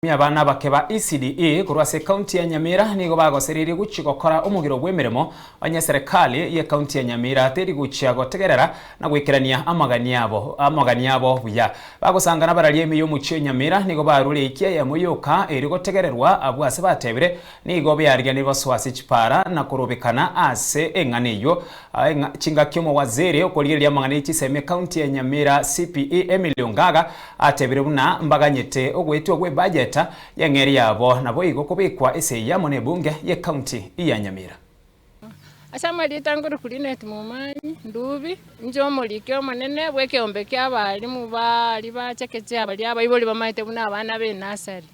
Ime abana abake ba ECDE korwa ase Ekaunti ya Nyamira nigo bagosererie gochia gokora omogiro bw'emeremo onye Serikali y'Ekaunti ya Nyamira teri gochia gotegerera na goikerania amagani abo amagani abo buya. Bagosangana bararia ime y'omochie o Nyamira nigo barure ekiayemo yoka eri gotegererwa abwo ase batebire Nigo bearigeretie gosoa ase chipaara na korobekana ase eng'ana eyio. Chingaki omowaziri okorigereria amang'ana e chisemi ekaunti ya Nyamira CPE Emily Ongaga atebire buna mbaganyete ogoetwa gwe bajeta y'eng'eria yabo naboigo kobekwa esegi amo ne ebunge y'ekaunti ya Nyamira. Ase amarieta ngorokwa Lynette Momanyi, Ndubi, inche omoriki omonene bw'ekeombe ki'abalimu baria bachekeche abaria abaibori bamaete buna abana b'enasari.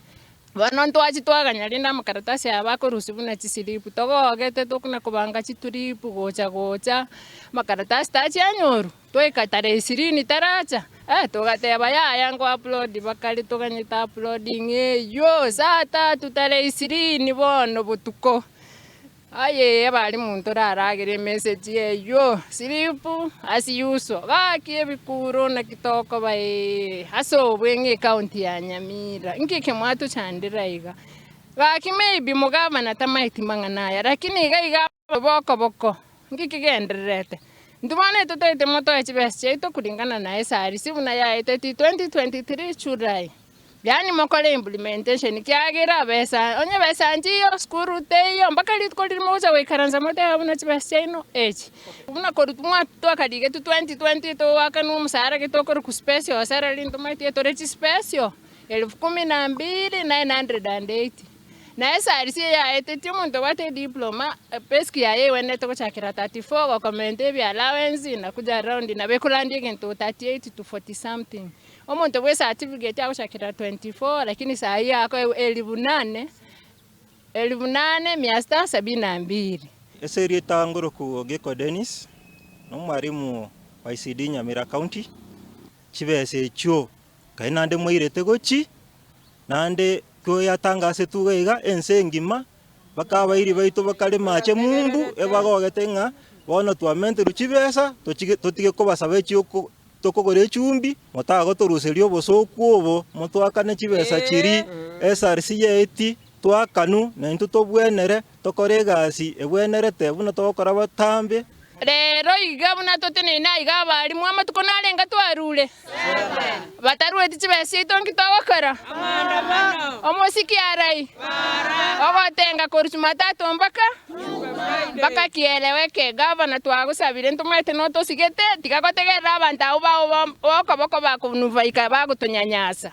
Bono ntwachi twaganya rende amakaratasi aya bakorusia buna chisilipu, togogete tokona kobanga chituripu gocha gocha, amakaratasi tachianyorwa. Twaika Tareisirini taracha, togateba, Yaya ngoaplodi. Bakare toganyete aplodi ng'eyio saa tatu Tareisirini bono botuko. Aye ebari monto oraragere emesegi eyio, slip as usual. Gaki ebikuro naki tokoba ee, ase obwe ng'a ekaunti ya Nyamira. Inki eke mwatochandera iga? Gaki maybe mugavana tamaeti mang'ana aya, lakini iga iga. Boko boko, ngiki gendererete. Intwe bono totagete motoe chibesa chiaito kuringana na SRC buna yaeteti 2023 July, yaani mokore implementation, kiagera besa onye besa nchiyo sukuru teiyo mpaka rituko riria mogocha goikaransa moteba buna chibesa chiaino echi. Buna korwa mwa twakarigetwe 2020 togoakanwa omosara gete okorokwa special salary, intwe maitie tore chispecial, elfu kumi na mbili, nine hundred and eighty. Na esaarisi eye yaetetie omonto obwate ediploma, payslip yaye egwenerete gochakera 34 gokomenta ebi allowance na kuja round nabo ekorandia egento 38 to 40 something. Omonto bwe certificate agochakera 24 lakini saa hii ako elifu nane elifu nane mia sita sabini na mbili. Ase erieta Ngoroku Ogeko Dennis, nomwarimu o ICD Nyamira County, chibesa echio Nkai naende mwairete gochi, naende toyatangasetwe iga iga ense engima, mpaka abairi baito bakare maache mumbu ebagogete ng'a bono twamenterwe chibesa tochige totige kobasaba echioko tokogora echumbi, motagotoruseria obosooku obo, motoakane chibesa chiria, esarisi y'eiti, twakanu, naintwe tobwenere. Tokore egasi egwenerete buna togokora botambe. Rero iga buna toteneine aiga abaalimu amatuko narenge twarure, batarueti chibesa chiaito nki togokora? Omosiki arai, ogotenga korwa Chumatatu mpaka mpaka kieleo eke. Gavana twagosabire ntomanyete notosigete, tiga gotegerera abanto abwo bao b'okoboko bakonubaika bagotonyanyasa.